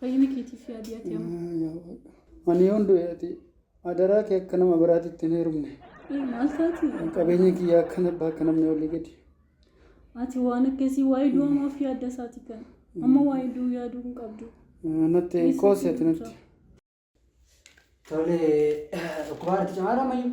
Fayyina keetiif yaadi ati amma. Yaa yaa waaqa. Ani yoon du'e ati adaraa kee akka nama biraatti ittiin heerumne. Ee, Maal taati? Qabeenya kiyyaa akka nabbaa akka namni olii gadi. Ati waan akkasii waa'ee du'a maaf yaadda isaati kan. Amma waa'ee du'u yaaduu hin qabdu. Eh, Natti Dhiisuu qoosi ati sitti natti. Tole dhukkubaa irratti cimaadha ammayyuu.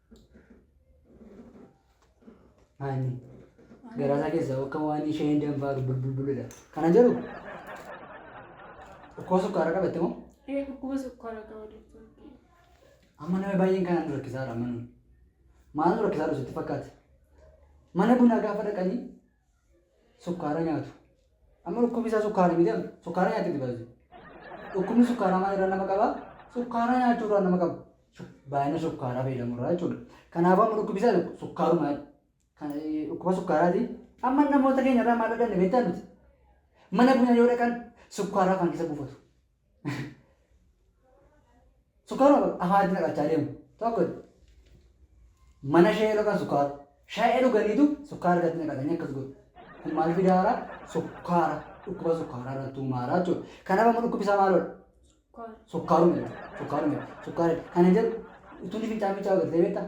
Haani. Garaasaa keessa akka waan ishee hin danfaaru bulbulbuludha. Kana jedhu dhukkuba sukkaara qabatte moo? Ee dhukkuba sukkaara qaba doktor. Amma nama baay'een kanaan nu rakkisaadha amma nuyi. Maal nu rakkisaadha sitti fakkaate? Mana bunaa gaafa dhaqanii sukkaara nyaatu. Amma dhukkubni isaa sukkaara miti amma sukkaara nyaatti itti baay'ee. Dhukkubni sukkaaraa maal irraa nama qaba? Sukkaaraa nyaachuu irraa nama qaba. Baay'ina sukkaaraa fayyadamu irraa jechuudha. Kanaafuu amma dhukkubni isaa sukkaaruma dhukkuba sukkaaraati. Amma namoota keenya irraa maal dhaganne beektaa nuti? Mana bunaa yoo dhaqan sukkaaraa afaan keessa buufatu. Sukkaaruma kun afaanitti naqachaa deemu. Tokko mana shayee dhaqan sukkaara. Shayee dhuganiitu sukkaara irratti naqatanii akkas godhu. Kun maal fidaara? Sukkaara. Dhukkuba sukkaaraa irratti uumaara jechuudha. Kanaaf amma dhukkubni isaa maalodha? Sukkaaruma jechuudha. Sukkaaruma jechuudha. Sukkaara. Kana jedhu utuu inni fincaan fincaa agartee beektaa?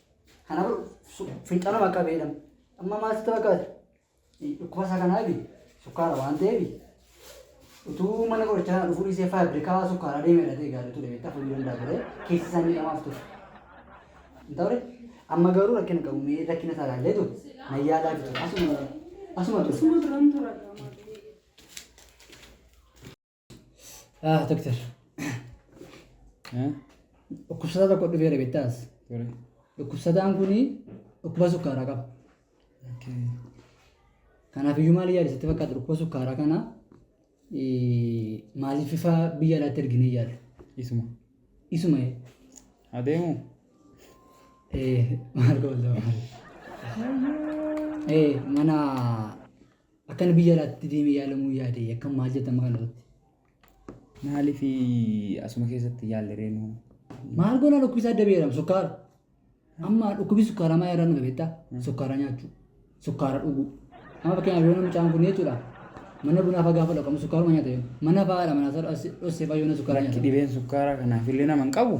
Kana fincanuma akka beedhamu. Amma maasitti fakkaata. Dhukkuba isaa kanaa fi sukkaara waan ta'eef utuu mana qorichaa kana dhufuu dhiisee faabrikaa sukkaaraa deemee dhatee gaarii ture beektaa fudhuu danda'a ture keessi isaa miidhamaaf ture. Hin ta'ure amma garuu rakkina qabu mee rakkina isaa ilaallee ture na yaalaa fi ture asuma asuma ture. Asuma turan tura. Ah, doktar. Dhukkubsataa tokko dhufeera beektaas. Dhukkubsataan kun dhukkuba sukkaaraa qaba. Kanaaf iyyuu maal yaada sitti fakkaata dhukkuba sukkaaraa kana eh, maaliif ifa biyya alaatti erginee yaada? Isuma. Isuma eh, Adeemu. eh, maal goolaa? Eh, mana Akkan biyya alaatti deemee yaalamuu yaade akkam maal jettan maqaan irratti? Maaliif asuma keessatti yaalle reenu? Maal goona dhukkubisa adda beeram sukkaara. Amma dhukkubi sukkaaraa maa irraa nu dhabeetta? Sukkaaraa nyaachuu, sukkaara dhuguu. Amma fakkeenyaaf yoo mucaan kun jechuudha mana bunaa fa'aa gaafa dhaqamu sukkaaruma nyaata yoo mana fa'aadha mana isaa dhossee fa'aa yoo na sukkaaraa nyaata. Dhibeen sukkaaraa kanaaf illee nama hin qabu.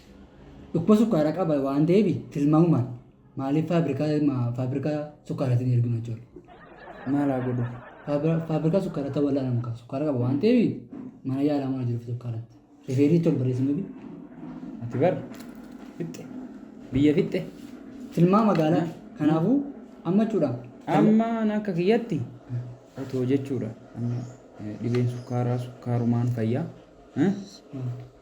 Dhukkuba sukkaara qaba waan ta'eef tilmaamumaan maaliif faabirikaa ma- faabirikaa sukkaaratiin erginu jechuudha. Maal haa godhu? Faabira- Faabirikaa sukkaaraa ta'uu wal'aana muka sukkaara qaba waan ta'eef mana yaalaa mana jiruuf sukkaaratti. Rifeerii tol barreessinu bi. Ati bar fixxe biyya fixxe Tilmaa magaalaa kanaafuu amma jechuudha. amma an akka kiyyatti otoo jechuudha amma eh, dhibeen sukkaaraa sukkaarumaan fayyaa eh,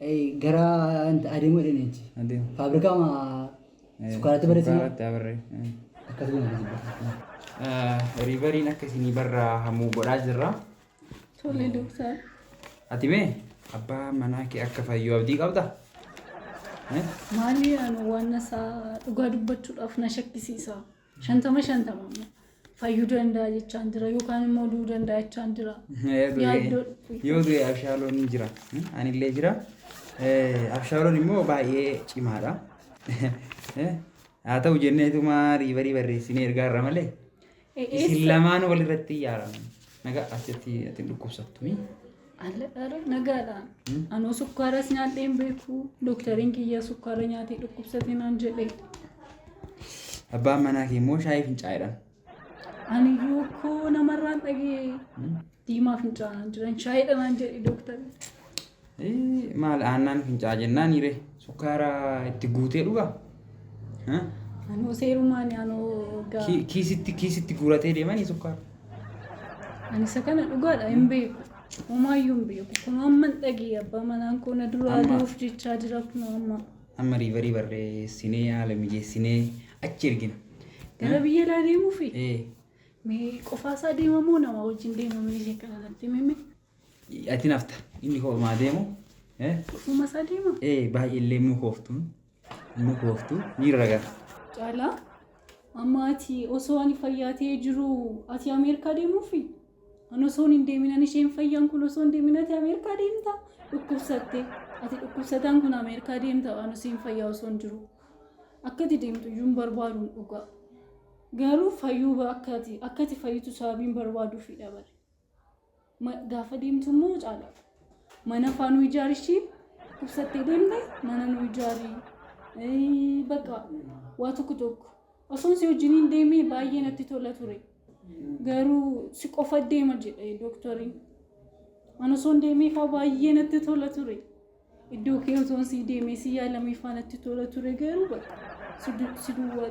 Ei gara ant- adeemuu jedhanii achi. Adeem. Faabrikaa ma sukkaaratti barreessan moo? Sukkaaratti abarree. Akkas goone akkasi barreessan. Riivariin akka isinii barra hamuu godhaa jirra. Tole doktar. Ati mee abbaa manaa kee akka fayyuu abdii qabda? Eh? Maali ani waan isaa dhugaa dubbachuudhaaf na shakkisiisa. Shantama shantama amma. Fayyuu danda'a jechaan jira yookaan immoo du'uu danda'a jechaan jira. Yaaddoo dhufu. Yoo du'e abshaaloon ni jira. Hmm? Anillee jira. Eh, Abshaaloon immoo baay'ee cimaadha. Eh, Haa ta'u jenneetuma riibarii barreessinee ergaa irra malee. Eh, Isin eessa? lamaan walirratti yaaramu. Nagaa asitti ati hin dhukkubsattu. mi? Alladhaara nagaadha. Anoo sukkaaras nyaadhee hin beeku. Doktariin kiyya sukkaara nyaatee dhukkubsate naan jedhe. Abbaan manaa kee immoo shaayii fincaa'edhaan. Ani iyyuu koo namarraan dhagee diimaa fincaa'aan jiran shaayidha naan jedhe doktari. Maal aannaan fincaa'aa jennaan hiire sukkaara itti guutee dhugaa? Ha? Anuu seerumaan anuu gaa. Ki- Kiisitti kiisitti guuratee deemanii sukkaara. Ani isa kana dhugaadha hin beeku. Homaayyuu hin beeku. Kun amma hin dhagee abbaa manaan koo na duraa Amma. du'uuf jechaa jira kun amma. Amma riivarii barreessinee haala mijeessinee achi ergina. Gara biyya alaa deemuufi. Ee, Mee qofaasaa deemamoo nama wajjin deemamee ishee kana natti himime. Ati hin hafta. Inni koo maa deemu. Eh, Dhufuma isaa deema. eh, baay'ee illee nu kooftuun. Nu kooftuu. Ni raga. Caalaa amma ati osoo ani fayyaa ta'ee jiru ati Ameerikaa deemuufi? Ani osoo hin deemin ani isheen fayyaan kun osoo hin deemin ati Ameerikaa deemta? Dhukkubsatte. Ati dhukkubsataan kun Ameerikaa deemta ani isheen fayyaa osoo hin jiru. Akka ati deemtu iyyuu hin barbaadu dhugaa. Garuu fayyuu ba- akka ati akka ati fayyitu sababiin barbaaduufi dhabale. Gaafa deemtu immoo caala. Mana faa nu ijaari ishii ibsattee deemte mana nu ijaari. Bakka waa tokko tokko. Osoon si wajjin hin deemee baay'ee natti tola ture. Garuu si qofa deema jedhe dooktoriin. An osoon deemee faa baay'ee natti tola ture. Iddoo kee osoon si deemee si yaalamee faa natti tola ture garuu bakka si duwwaa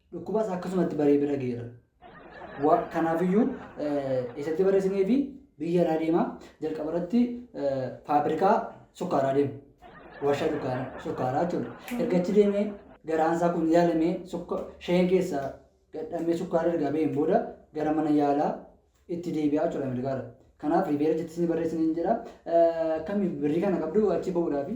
Dhukkubas akkasuma itti baree bira geera. Kanaafiyyuu eessatti barreessinee fi biyya irraa deema. Jalqaba irratti faabirikaa sukkaaraa deema. Warshaa sukkaaraa jechuudha. Erga achi deemee garaan isaa kun yaalamee sheen keessaa gadhamee sukkaara erga baheen booda gara mana yaalaa itti deebi'aa jechuudha Ameerikaarra. Kanaaf riibeera jettee isin barreessine hin jedha. Akkami birrii kana qabdu achi ba'uudhaafi.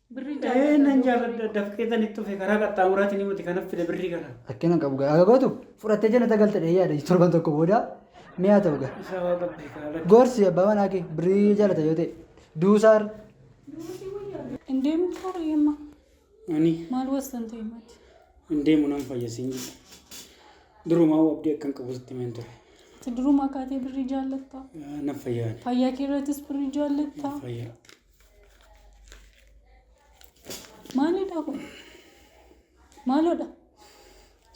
Birrii Ee jaalladha. nan jaalladha daf keessan itti dhufe karaa qaxxaamuraatiin himati kanaf fide birrii kana. Rakkina qabu gaa. Aga gootu fudhattee jannata galte dhee yaada torban tokko booda mi'a ta'u gaa. Isaa waa qabdi kaala. Gorsi abbaa manaa kee birrii jaalata yoo ta'e. Duusaar. Hin deemu toora yemma. Ani Maal wastan ta'e mati. hin deemu nan fayyasiin jira. Durumaa abdii akkan qabu sitti himan ture. Ati durumaa kaatee birrii jaallattaa. Nan fayyaa ani. Fayyaa kee irrattis birrii jaallattaa. Fayyaa. Maalidha kun? Maalodha?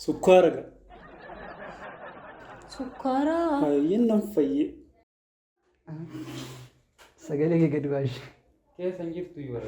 Sukkaara ga. Sukkaara. Baay'een nan fayyee. Sagalee kee gadi baashe. Keessa hin jirtu iyyuu bara